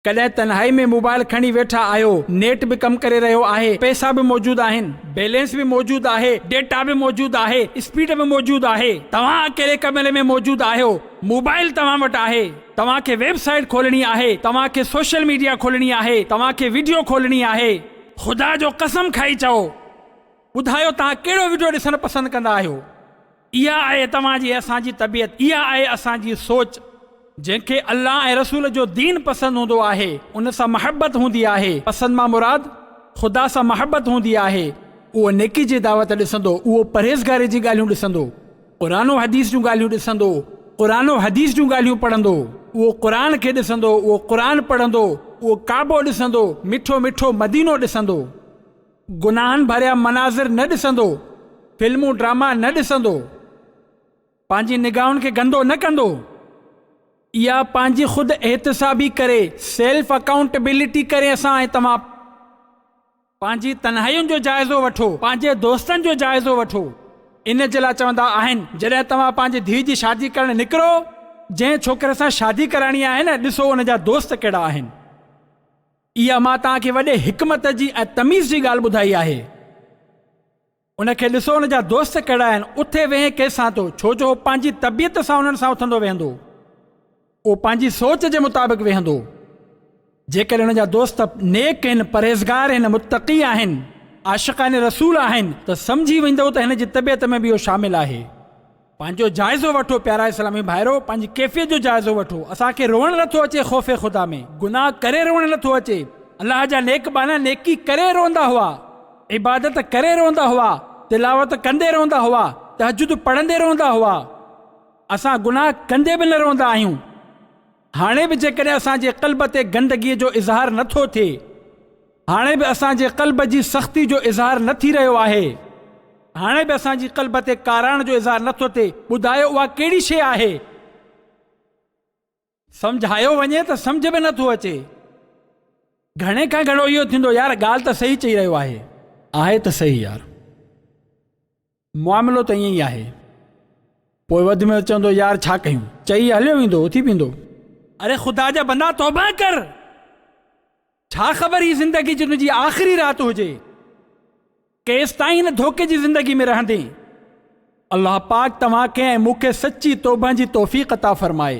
ڪڏهن تنهائي ۾ موبائل کڻي ويٺا آهيو، نيٽ به ڪم ڪري رهيو آهي، پئسا به موجود آهن، بيلنس به موجود آهي، ڊيٽا به موجود آهي، اسپيڊ به موجود آهي، توهان اڪيلي ڪمري ۾ موجود آهيو، موبائل توهان وٽ آهي، توهان کي ويب سائيٽ کولڻي آهي، توهان کي سوشل ميڊيا کولڻي آهي، توهان کي وڊيو کولڻي آهي. خدا جو قسم کائي چئو، ٻڌايو توهان ڪهڙو وڊيو ڏسڻ پسند ڪندا آهيو؟ اها آهي توهان جي ۽ اسان جي طبيعت، اها آهي اسان جي سوچ. جنهن کي الله ۽ رسول جو دين پسند هوندو آهي، ان سان محبت هوندي آهي، پسند مان مراد خدا سان محبت هوندي آهي، اهو نيڪي جي دعوت ڏسندو، اهو پرهيزگاري جي ڳالهيون ڏسندو، قرآن و حديث جون ڳالهيون ڏسندو، قرآن و حديث جون ڳالهيون پڙهندو، اهو قرآن کي ڏسندو، اهو قرآن پڙهندو، اهو ڪعبو ڏسندو، مٺو مٺو مدينو ڏسندو. گناهن ڀريا مناظر نه ڏسندو، فلمون ڊراما نه ڏسندو، پنهنجي نگاهن کي گندو نه ڪندو. اها پنهنجي خود احتسابي ڪري، Self Accountability، ڪري اسان ۽ توهان پنهنجي تنهائين جو جائزو وٺو، پنهنجي دوستن جو جائزو وٺو. ان جي لاء چوندا آهن جڏهن توهان پنهنجي ڌيء جي شادي ڪرڻ نڪرو، جنهن ڇوڪري سان شادي ڪرائڻي آهي نه ڏسو ان جا دوست ڪهڙا آهن. اها مان توهان کي وڏي حڪمت جي ۽ تميز جي ڳالهه ٻڌائي آهي. ان کي ڏسو ان جا دوست ڪهڙا آهن، اٿي ويهي ڪنهن سان ٿو، ڇو جو هو پنهنجي طبيعت سان انهن سان اٿندو ويهندو. اهو پنهنجي سوچ جي مطابق ويهندو. جيڪڏهن ان جا دوست نيڪ هن، پرهيزگار هن، متقي آهن، عاشقان رسول آهن ته سمجهي ويندؤ ته هن جي طبيعت ۾ به اهو شامل آهي. پنهنجو جائزو وٺو پيارا اسلامي ڀائرو پنهنجي ڪيفيت جو جائزو وٺو اسان کي روئڻ نٿو اچي خوف خدا ۾ گناھ ڪري روئڻ نٿو اچي الله جا نيڪ ٻانها نيڪي ڪري روئندا هئا عبادت ڪري روئندا هئا تلاوت ڪندي روئندا هئا تهجد پڙهندي روئندا هئا اسان گناھ ڪندي به نه روئندا آهيون. هاڻي به جيڪڏهن اسان جي قلب تي گندگيء جو اظهار نه ٿو ٿئي، هاڻي به اسان جي قلب جي سختي جو اظهار نه ٿي رهيو آهي، هاڻي به اسان جي قلب تي ڪاراڻ جو اظهار نه ٿو ٿئي، ٻڌايو اها ڪهڙي شيء آهي؟ سمجهايو وڃي ته سمجهه به نه ٿو اچي. گهڻي کان گهڻو اهو ٿيندو، يار ڳالهه ته صحيح چئي رهيو آهي. آهي ته صحيح يار. معاملو ته ائين ئي آهي. پوء وڌ ۾ وڌ چوندو يار ڇا ڪيون. چئي هليو ويندو اٿي پيندو. اڙي خدا جا بندا توبه ڪر. ڇا خبر هي زندگي جي تنهنجي آخري رات هجي. ڪيستائين هن ڌوڪي جي زندگي ۾ رهندين. الله پاڪ توهان کي ۽ مون کي سچي توبهن جي توفيق عطا فرمائي.